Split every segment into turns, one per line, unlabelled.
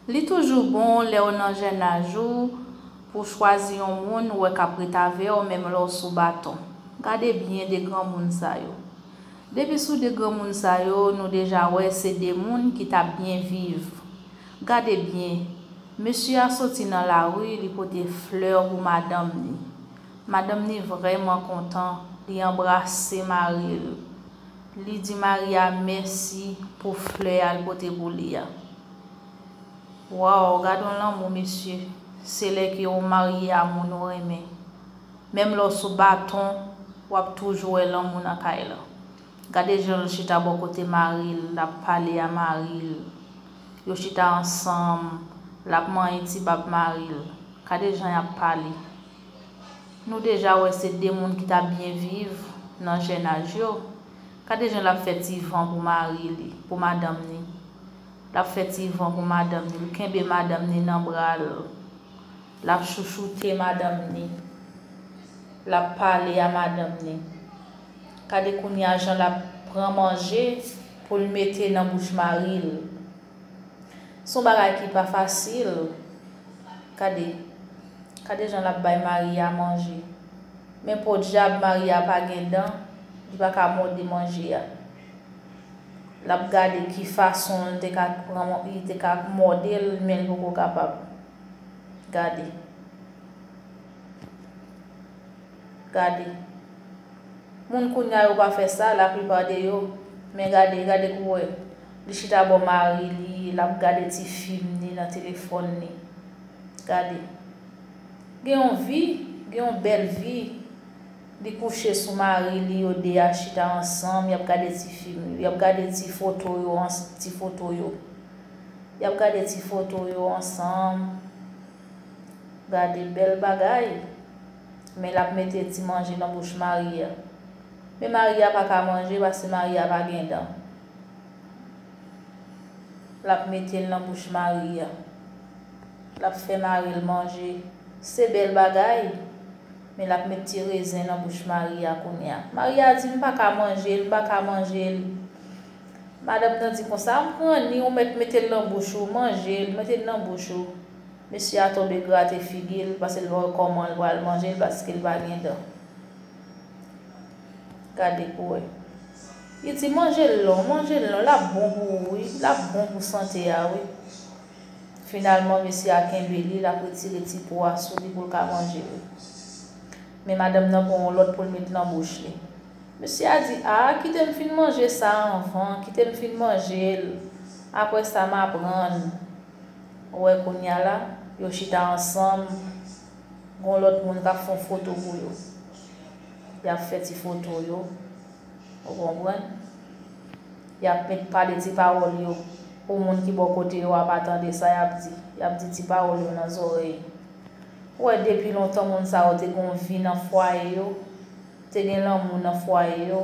Li toujou bon lèw nan jènaj ou pou chwazi yon moun ou wè kap ret avèw menm lèw sou baton. Gade byen 2 granmoun sa yo. Depi sou 2 granmoun sa yo nou deja wè se 2 moun ki tap byen viv. Gade byen, mesye a soti nan lari li pote flè pou madanm ni. Madanm ni vrèman kontan, li anbrase maril. Li di Mari a mèsi pou flè a l pote pou li a. Waww gadon lanmou mesye se lè ke ou marye a moun ou renmen menm lè w sou baton wap toujou wè lanmou nan kay lan gade jan l chita bò kote mari l lap pale a mari l yo chita ansanm lap manyen ti bab mari l kade jan yap pale. Nou deja wè se 2 moun ki t ap byen viv nan jennaj yo. Gade jan l ap fè ti van pou mari li, pou madanm ni. L ap fè ti van pou madanm ni, l kenbe madanm ni nan bra l. L ap chouchoute madanm ni. L ap pale a madanm ni. Gade kounye a jan l ap pran manje pou l mete nan bouch mari l. Son bagay ki pa fasil gade gade jan lap bay Maria manje men podyab Maria pa gen dan li pa ka mòde manje a lap gade ki fason li te ka pran li te ka mòde l men li poko kapab gade. Gade. Moun kounya yo pa fè sa, la plupart de yo. Men gade, gade pou wè. Li chita bò mari li, lap gade ti film li nan téléphone li. Gade. Gen yon vi, gen yon bèl vi. Li kouche sou mari li, yo 2 a chita ansanm, yap gade ti film yo. Yap gade ti foto yo ans, ti foto yo. Yap gade ti foto yo ansanm. Gade bèl bagay. Men lap mete ti manje nan bouch Maria. Men Maria pa ka manje paske Maria pa gen dan. Lap metel nan bouch Maria. Lap fè maril manje. Se bèl bagay. Men lap met ti rezen nan bouch Maria kounya. Maria di m pa ka manjel, m pa ka manjel. Madanm nan di konsa, an pran ni ou mèt metel nan bouch ou, manjel, metel nan bouch ou. Mesye a tonbe grate figi l pase l pa wè kòman l pral manje l paske l pa gen dan. Gade pou wè. Li di manje l lon, manje l lon, l ap bon pou ou wi, l ap bon pou sante a wi. Finalman mesye a kenbe li, l ap retire ti po a sou li pou l ka manje l. Men madanm nan pran yon lòt pou l met nan bouch li. Mesye a di a, kite m fin manje sa anvan, kite m fin manje l, aprè sa m aprann. Ou wè kounya la, yo chita ansanm, gon lòt moun k'ap fon foto pou yo. Y'ap fè ti foto yo, ou konprann. Y'ap met pale ti pawòl yo, pou moun ki bò kote yo a pa tande sa y'ap di. Y'ap di ti pawòl yo nan zòrèy. Ou wè depi lontan moun sa yo te gon vi nan fwaye yo, te gen lanmou nan fwaye yo.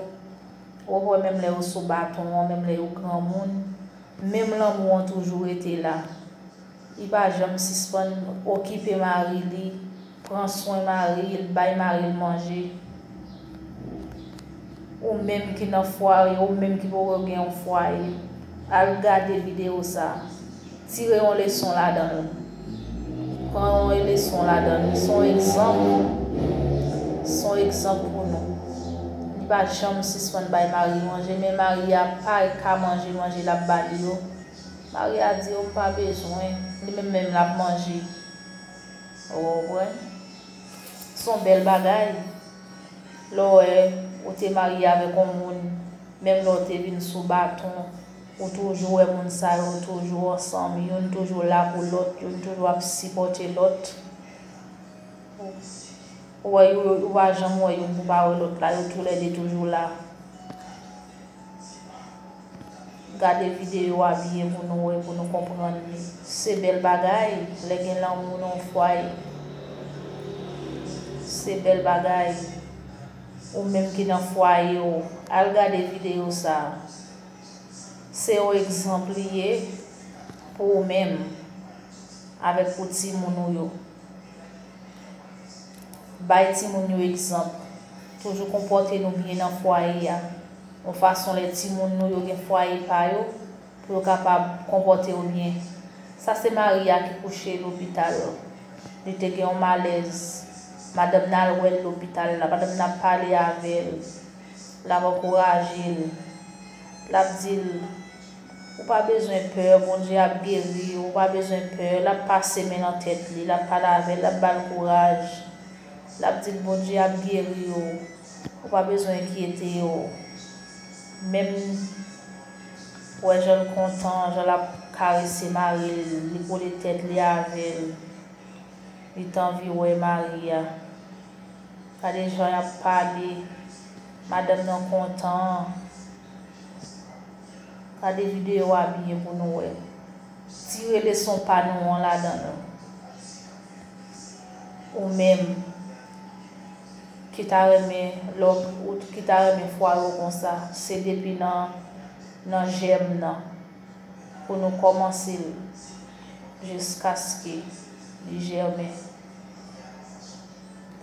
Ou wè menm lè yo sou baton an, menm lè yo granmoun. Menm lanmou an toujou rete la. Li pa janm sispann okipe mari li, pran swen mari l, bay mari l manje. Ou menm ki nan fwaye, ou menm ki poko gen yon fwaye, al gade videyo sa. Tire yon leson ladan l. Pran yon eleson ladan li. Se yon egzanp. Se yon egzanp pou nou. Li pa janm sispann bay Mari manje, men Mari a pa ka manje manje l ap ba li yo. Mari a di, O m pa bezwen. Li menm menm l ap manje. Ou konprann? Se yon bèl bagay. Lè w wè ou te marye avèk yon moun, menm lè w te vin sou baton. Ou toujou wè moun sa yo toujou ansanm, youn toujou la pou lòt, youn toujou ap sipòte lòt. Ou wè yo, ou pa janm wè youn pou pa wè lòt la, yo tou lè de toujou la. Gade videyo a byen pou nou wè, pou nou konprann li. Se bèl bagay, lè gen lanmou nan yon fwaye. Se bèl bagay. Ou menm ki nan fwaye ou, al gade videyo sa a. Se yon egzanp li ye pou ou menm avèk pou timoun ou yo. Bay timoun yo egzanp. Toujou konpòte nou byen nan fwaye a, yon fason lè timoun nou yo gen fwaye pa yo, pou yo kapab konpòte yo byen. Sa se Maria ki kouche lopital. Li te gen yon malèz. Madanm nan al wè l lopital la. Madanm nan ap pale avè l. l ap ankouraje l, l ap di l, Ou pa bezwen pè, Bondye ap geri w, ou pa bezwen pè, l ap pase men nan tèt li, l ap pale avè l, l ap ba l kouraj, l ap di l, Bondye ap geri w, ou pa bezwen enkyete w, menm wè jan l kontan, jan l ap karese mari l, li kole tèt li avè l. Li t anvi wè Maria. Gade jan y ap pale. Madanm nan kontan an. Gade videyo a byen pou nou wè. Tire leson pa nou an ladan l. Ou menm ki ta renmen lò ou ki ta renmen fware w konsa se depi nan jèm nan. pou nou kòmanse l jiskaske li jèmen.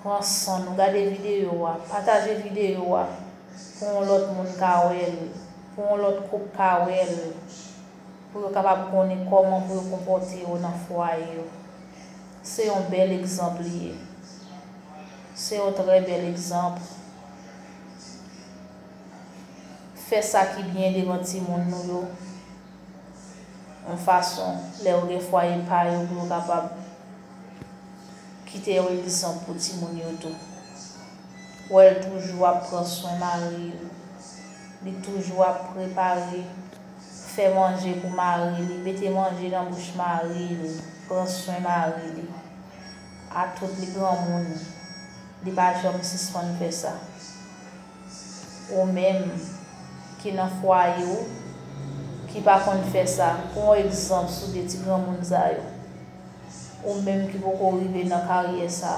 Pran san nou gade videyo a, pataje videyo a pou yon lòt moun ka wè l, pou yon lòt koup ka wè l, pou yo kapab konnen kòman pou yo konpòte yo nan fwaye yo. Se yon bèl egzanp li ye. Se yon trè bèl egzanp. Fè sa ki byen devan timoun nou yo, yon fason lè yo gen fwaye pa yo pou yo kapab kite yon egzanp pou timoun yo tou. Wè l toujou ap pran swen mari l, li toujou ap prepare, fè manje pou mari li, mete manje nan bouch mari li, pran swen mari li. Atout li granmoun, li pa janm sispann fè sa. Ou menm ki nan fwaye ou ki pa konn fè sa, pran yon egzanp sou de ti granmoun sa yo. Ou menm ki poko rive nan karyè sa,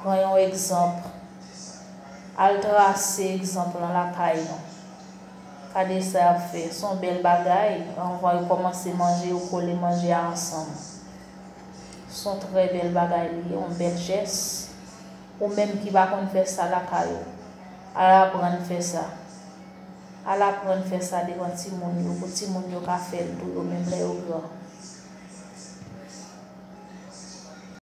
pran yon egzanp, al trase egzanp lan lakay nou. Gade sa y ap fè, se yon bèl bagay, anvan yo kòmanse manje yo kole manje a ansanm. Se yon trè bèl bagay li ye, yon bèl jès. Ou menm ki pa konn fè sa lakay ou, al aprann fè sa. Al aprann fè sa devan timoun yo pou timoun yo ka fè l tou yo menm lè yo gran.